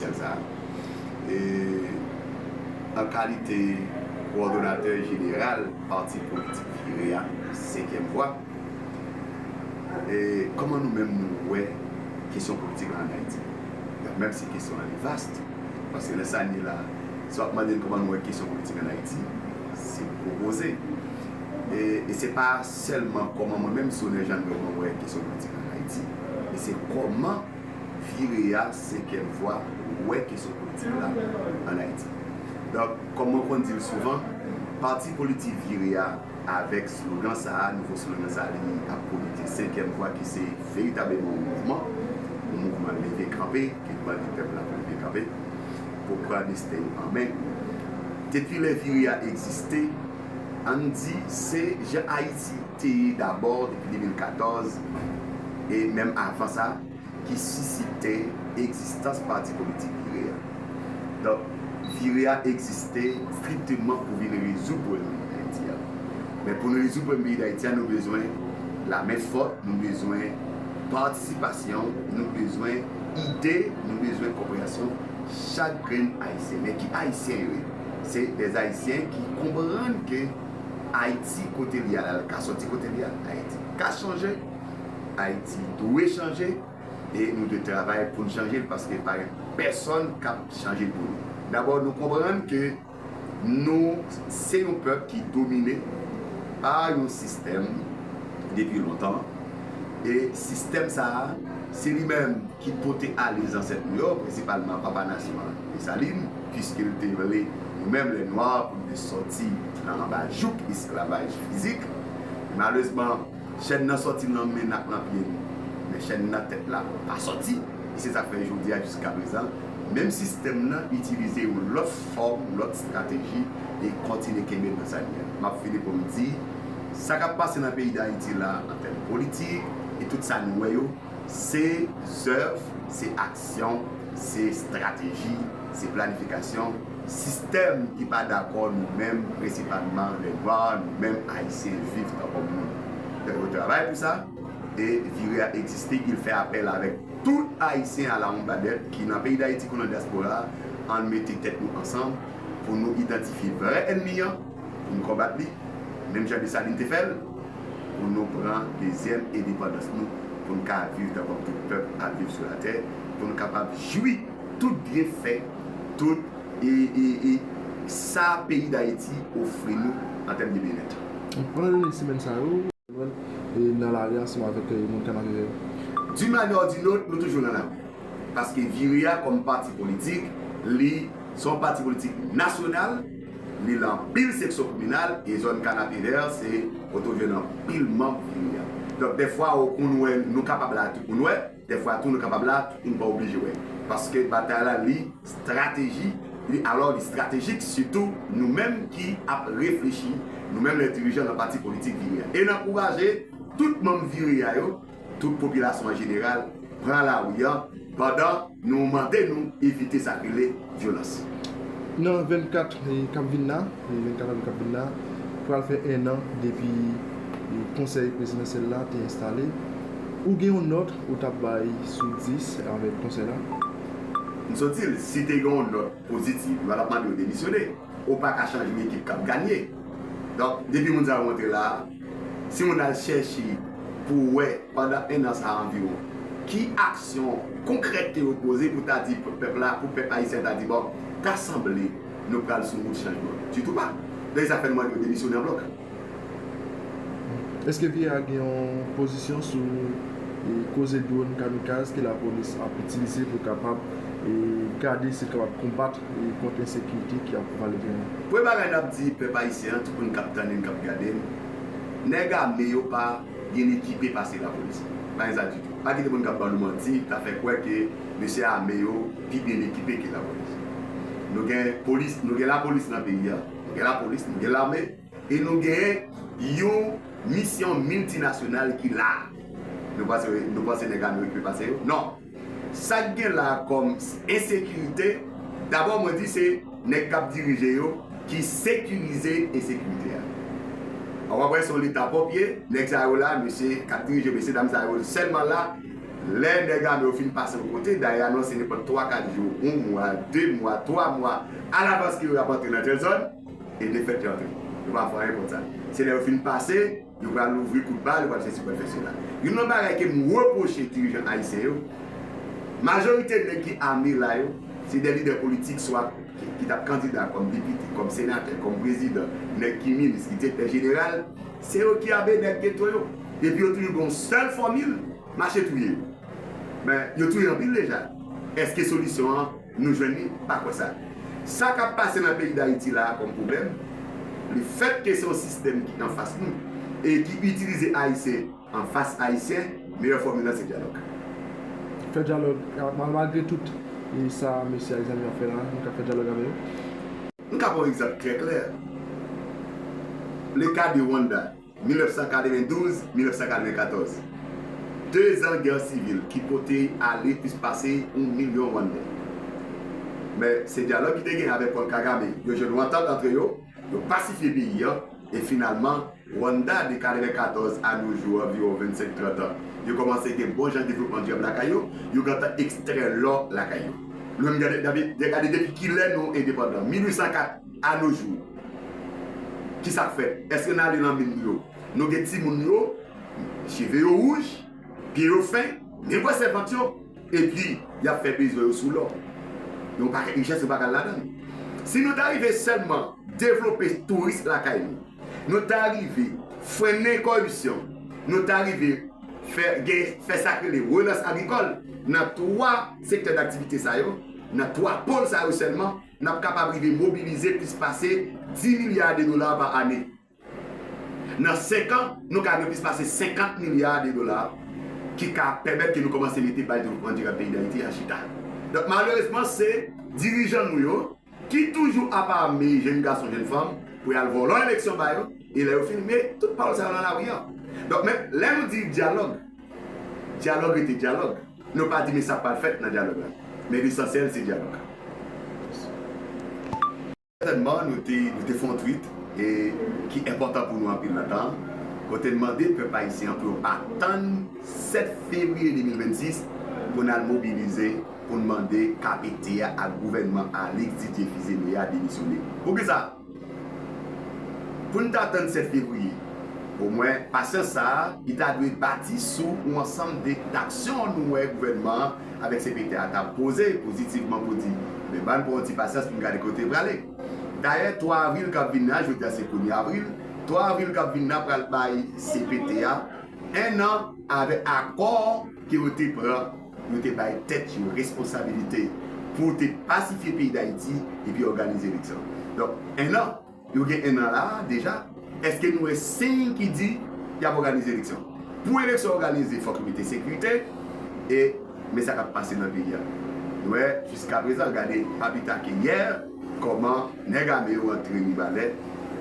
Komisè sa a, an kalite kowòdonatè jeneral pati politik Jere a, Senkyèm Vwa, kòman nou menm nou wè kesyon politik la ann Ayiti? Menm si kesyon an li vast, paske lè sa n ye la, si w ap mande n kòman nou wè kesyon politik ann Ayiti, se gwo koze. E se pa sèlman kòman mwen menm, Sonè Jannot, mwen wè kesyon politik la ann Ayiti, men se kòman. vi reyal se kè vwa wè kesyon politik la an Ayiti. Donk, kòm mwen konn di l souvan, pati politik vire a avèk slogan sa a, nouvo slogan sa a li ap pwomete senkyèm vwa ki se veritableman yon mouvman, yon mouvman leve kanpe ke bandi pèp la ap leve kanpe pou pran desten yo an men. Depi lè vire a egziste, ann di se jan Ayiti. Te ye dabò depi 2014, e menm avan sa, ki sisite egzistans pati politik Vire a. Donk, Vire a egziste strikteman pou vin rezoud pwoblèm peyi Dayiti a. Men pou n rezoud pwoblèm peyi Dayiti a, nou bezwen lamen fòt, nou bezwen patisipasyon, nou bezwen ide, nou bezwen konpreyansyon chak grenn Ayisyen. Men ki Ayisyen yo ye? Se dèzayisyen ki konprann ke. Ayiti kote li a la, l ka sòti kote li a. Ayiti ka chanje, Ayiti dwe chanje e nou dwe travay pou n chanje l paske pa gen pèsòn k ap chanje l pou nou. Dabò nou konprann ke nou se yon pèp ki domine pa yon sistèm depi lontan e sistèm sa a se li menm ki pote ale zansèt nou yo, prensipalman papa nasyon an Desalin. Piske l te vle nou menm lè nwa pou n te sòti nan anba jouk esklavaj fizik. Malerezman, chèn nan sòti nan men n ak nan pye n, men chèn nan tèt la pa sòti. E se sa k fè jodi a, jiskaprezan, menm sistèm nan itilize yon lòt fòm, yon lòt estrateji e kontinye kenbe n nan sa n ye a. M ap fini pou m di, sa k ap pase nan peyi Dayiti la an tèm politik e tout sa n wè yo, Se zèv, se aksyon, se estrateji, se planifikasyon, sistèm ki pa dakò nou menm prensipalman lè nwa, nou menm ayisyen viv tan kòm moun. Donk yo travay pou sa e vire a egziste, il fè apèl avèk tout ayisyen alawonnbadèt ki nan peyi dayiti kou nan dyaspora a, an n mete tèt nou ansanm pou nou idantifye vrè ènmi an, pou n konbat li, menm jan Desalin te fè l. pou nou pran dezyèm endepandans nou, pou n ka viv tan kòm tout pèp ap viv sou latè, pou n kapab jwi tout byenfè, tout sa peyi Dayiti ofri nou an tèm de byennèt. Pandan dènye semèn sa yo, nou jwenn nou nan lari ansanm avèk moun Kanarivèv. D'une manière ou d'une autre, nou toujou nan lari. Paske Vire a kòm pati politik, li se yon pati politik nasyonal. Li lan pil seksyon kominal e zòn Kanapevè se kote ou jwenn anpil manb fimi a. Donk dèfwa ou konn wè nou kapab la tou pou n wè, dèfwa tou nou kapab la tou pou n pa oblije wè. Paske batay la li strateji, li alò li stratejik sitou nou menm ki ap reflechi, nou menm lè dirijan lan pati politik viri a. E n ankouraje tout manm viri a yo. Tout popilasyon an jeneral pran lari an pandan nou mande nou evite sa k rele vyolans. Nan 24 k ap vin la, 24 avril k ap vin la, pral fè 1 an depi konsèy prezidansyèl la te enstale. Ou gen yon nòt ou t ap bay sou 10 avèk konsèy la? M sot di l, si te gen yon nòt pozitiv, yo pa t ap mande yo demisyone. Ou pa ka chanje yon ekip k ap ganye. Donk, depi moun sa yo antre la a. Si moun al chèche pou wè pandan 1 an sa anviwon, ki aksyon konkrèt ke yo poze pou ta di pèp la, pou pèp ayisyen ta di bon, ta sanble nou pral sou wout chanjman. Ditou pa. Dayè sa fè nou mande yo demisyone an blòk. Eske Vye A gen yon pozisyon sou koze dwòn kamikaz ke lapolis ap itilize pou kapab gade si l kapab konbat e kont ensekirite ki ap pral genyen. Premye bagay n ap di pèp ayisyen an, tout moun k ap tande n, k ap gade n, nèg ame yo pa byen ekipe pase lapolis. Pa gen sa ditou. Pa kite moun k ap ba nou manti, k ap fè kwè ke mesye ame yo pi byen ekipe ke lapolis. Nou gen polis, nou gen lapolis nan peyi a, nou gen lapolis, nou gen lame e nou gen yon misyon miltinasyonal ki la a. Nou panse nèg ame yo okipe pase yo? Non! Sak gen la kòm ensekirite, dabò mwen di se nèg kap dirije yo ki sekirize ensekirite a. Ou ap wè se yon leta pwòp ye, nèg sa yo la, mesye kap dirije mesye dam sa yo sèlman la, lè nèg ame yo fin pase yon kote, dayè anonse nenpòt 3 4 jou, yon mwa, 2 mwa, 3 mwa alavans ke yo ap antre nan tèl zòn, e defèt yo antre. Yo pa fè anyen kont sa. Se lè yo fin pase. Yo pral louvri kout bal, yo pral sesi, yo pral fè sela. Youn nan bagay ke m repwoche dirijan ayisyen yo, majorite nèg ki ame la yo, se de lidè politik swa ki t ap kandida kòm depite, kòm senatè, kòm prezidan, nèg ki minis, ki direktè jeneral, se yo ki ame nèg geto yo. Epi yo toujou gen yon sèl fòmil, mache touye yo. Men, yo touye anpil deja. Èske solisyon an. Nou jwenn li pa kwè sa. Sa kap pase nan peyi Dayiti la a kòm pwoblèm, le fèt ke se yon sistèm ki anfas nou e ki itilize Ayisyen anfas Ayisyen, meyè fòmil lan se dyalòg. Fè dyalòg, malgre tout sa mesye ak zanmi yo ap fè la, nou ka fè dyalòg avè yo. M ka ba w egzanp trè klè, le ka de Rwanda. 1992, 1994. Dezan gè sivil ki pote ale plis pase yon milyon Rwandè. Men, se dyalòg ki te gen avèk Paul Kagame, yo jwenn yon antant antre yo, yo pasifye peyi an, e finalman, Rwanda de 94 a nou jou anviwon 25, 30 an, yo kòmanse gen bon jan devlopman dyab lakay yo, yo gentan ekstrè lò lakay yo. Nou menm gade depi kilè nou endepandan, 1804. A no jou, ki sa k fèt? Èske n ale nan min yo, nou gen timoun yo, cheve yo wouj, pye yo fen, men bwè sèvant yo, epi y ap fè bezwen yo sou lò? Yon pakèt richès nou pa ka al ladan l. Si nou ta rive sèlman devlope touris lakay nou, nou ta rive frennen kòripsyon, nou ta rive fè gen fè sa k rele relans agrikòl nan twa sektè daktivite sa yo, nan twa pol sa yo sèlman, N ap kapab rive mobilize plis pase 10 milya de dola pa ane. Nan senk an, nou ka gen plis pase 50 milya de dola ki ka pèmèt ke nou kòmanse mete baz devlopman dirab peyi Dayiti a chita. Donk malerezman se dirijan nou yo ki toujou ap ame jenn gason, jenn fanm pou y al vòlò eleksyon ba yo e lè yo fin met tout pawòl sa yo nan lari an. Donk men lè nou di dyalòg, dyalòg rete dyalòg. Nou pa di men sa pral fèt nan dyalòg la, men lesansyèl se dyalòg. Sètènman, nou te fè yon tweet ki enpòtan pou nou anpil nan tan an, kote n mande pèp ayisyen an pou yo pa tann 7 fevriye 2026 pou n al mobilize pou n mande KPT a ak gouvènman Alix Didier Fils-Aimé a demisyone. Poukisa? Pou n ta tann 7 fevriye, omwen pasyans sa a, li ta dwe bati sou yon ansanm de daksyon nou wè gouvènman an avèk CPT a ta poze pozitivman pou di, men ban n pran yon ti pasyans pou n gade kote l prale. Dayè 3 avril k ap vin nan, jodi a se premye avril, 3 avril k ap vin nan pral bay CPT a ennan avèk akò ke yo te pran. Yo te bay tèt yo responsabilite pou te pasifye peyi Dayiti epi òganize eleksyon. Donk, ennan, yo gen ennan la a deja, èske nou wè siy ki di y ap òganize eleksyon? Pou eleksyon òganize fòk yo mete sekirite e men sa k ap pase nan peyi a. Nou wè jiskaprezan, gade pa pi ta ke yè, kòman nèg ame yo antre Mibalè,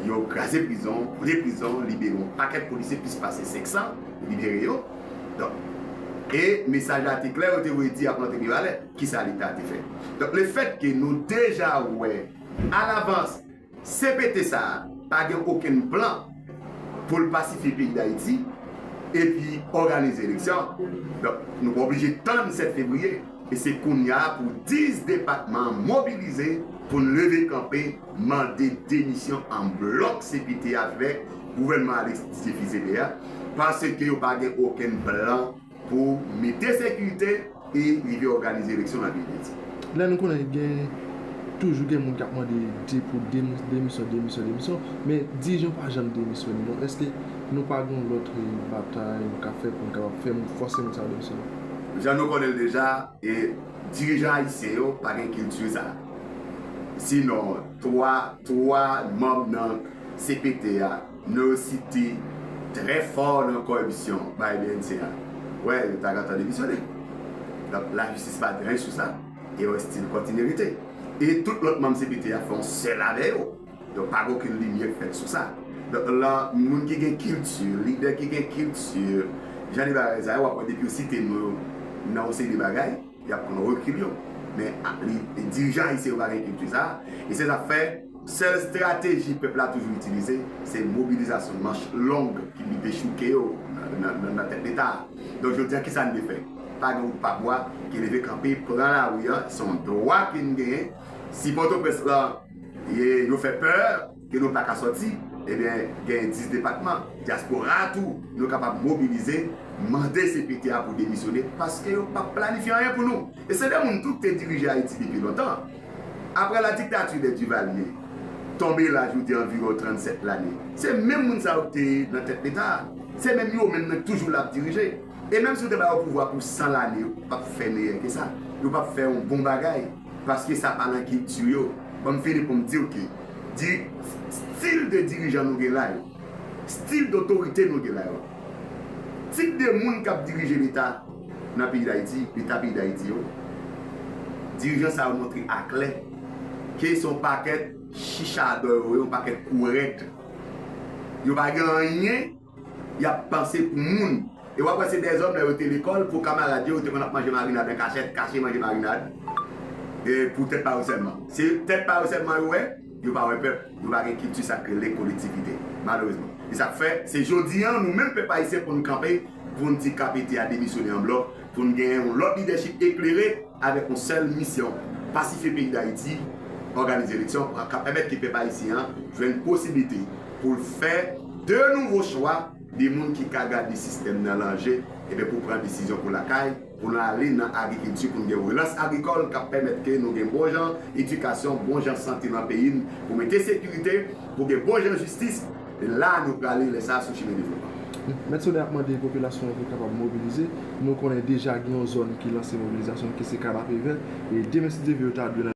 yo kraze prizon, boule prizon, libere yon pakèt polisye plis pase 500, libere yo. Donk, e mesaj la te klè, yo te voye di y ap rantre Mibalè. Ki sa Leta te fè? Donk, lefètke nou deja wè alavans CPT sa a pa gen okenn plan pou l pasifye peyi Dayiti epi òganize eleksyon, donk, nou pa oblije tann 7 fevriye. E se kounye a pou 10 depatman an mobilize pou n leve kanpe. mande demisyon an blòk CPT a fè gouvènman Alexis Tchifikzede a paske yo pa gen okenn plan pou mete sekirite e rive òganize eleksyon nan peyi Dayiti. Lè nou konnen gen toujou gen moun k ap mande di pou demisyon, demisyon, demisyon, men dirijan pa janm demisyone. Donk èske nou pa gen yon lòt batay nou ka fè pou nou kapab fè moun fòse moun sa yo demisyone? Jan nou konnen l deja, Dirijan ayisyen yo pa gen kilti sa. Si non 3 3 manb nan cpt a no yo site trè fò nan kòripsyon bay bnc a wè yo ta gentan demisyone. Donk la jistis pa gen ren sou sa e yo estil kontinye rete. E tout lòt manb cpt a fè yon sèl avè yo. Donk pa gen okenn limyè k fèt sou sa. Donk la moun ki gen kilti, lidè ki gen kilti, jan de bagay sa yo w ap wè depi yo site non yo nan yon seri de bagay y ap pran rekil yo. Men dirijan ayisyen yo pa gen kilti sa a e se sa k fè sèl estrateji pèp la toujou itilize se mobilizasyon manch long ki pi dechouke yo nan tèt Leta a. Donk jodi a ki sa n dwe fè? Pa gen wout pa bwa ke leve kanpe pran lari a se yon dwa ke n genyen si Pòtoprens lan E nou fè pè ke nou pa ka sòti, ebyen gen 10 depatman dyaspora a tou nou kapab mobilize, mande CPT a pou demisyone paske yo pap planifye anyen pou nou. E se de moun tou ki te dirije Ayiti depi lontan. Aprè la diktati de Duvalier tonbe la jou di anviwon 37 lane, se menm moun sa yo ki te nan tèt leta a, se menm yo menm nan ki toujou la ap dirije. E menm si ou te ba yo pouvwa pou 100 lane yo pap fè meyè ke sa, yo pap fè yon bon bagay. Paske sa pa nan kilti yo. Banm fini poum diw ke di stil de dirijan nou gen la yo, stil dotorite nou gen la yo, tip de moun kap dirije leta nan peyi dayiti, leta peyi dayiti yo, dirijan sa yo montre a klè ke son pakèt chichadò yo ye, yon pakèt kou rèd. Yo pa gen anyen. Yap panse pou moun. E wap wè se dèzòm lè yo te lekòl pou kamarad yo yo te konn ap manje marinad an kachèt kache manje marinad e pou tèt pa yo sèlman. Se tèt pa yo sèlman yo wè, yo pa wè pèp, yo pa gen kilti sak rele kolektivite malerezman. E sak fè se jodi an nou menm pèp ayisyen poun kanpe poun di KPT a demisyone an blòk. Pou n genyen yon lòt lidèchip eklere avèk yon sèl misyon, pasifye peyi Dayiti, òganize eleksyon k ap pèmèt ke pèp ayisyen an jwenn posiblite pou l fè de nouvo chwa, de moun ki ka gade sistèm nan lan je, enben pou pran desizyon pou lakay, pou nou ale nan agrikilti, pou n gen relans agrikòl k ap pèmèt ke nou gen bon jan edikasyon, bon jan sante nan peyi n, pou mete sekirite, pou gen bon jan jistis. E la a nou prale lè sa a sou chimen devlopman. Mèt Sode ap mande popilasyon an pou kapab mobilize. Nou konnen deja gen yon zòn ki lanse mobilizasyon ki se Kanapevè. E demen si Dye vle yo ta dwe.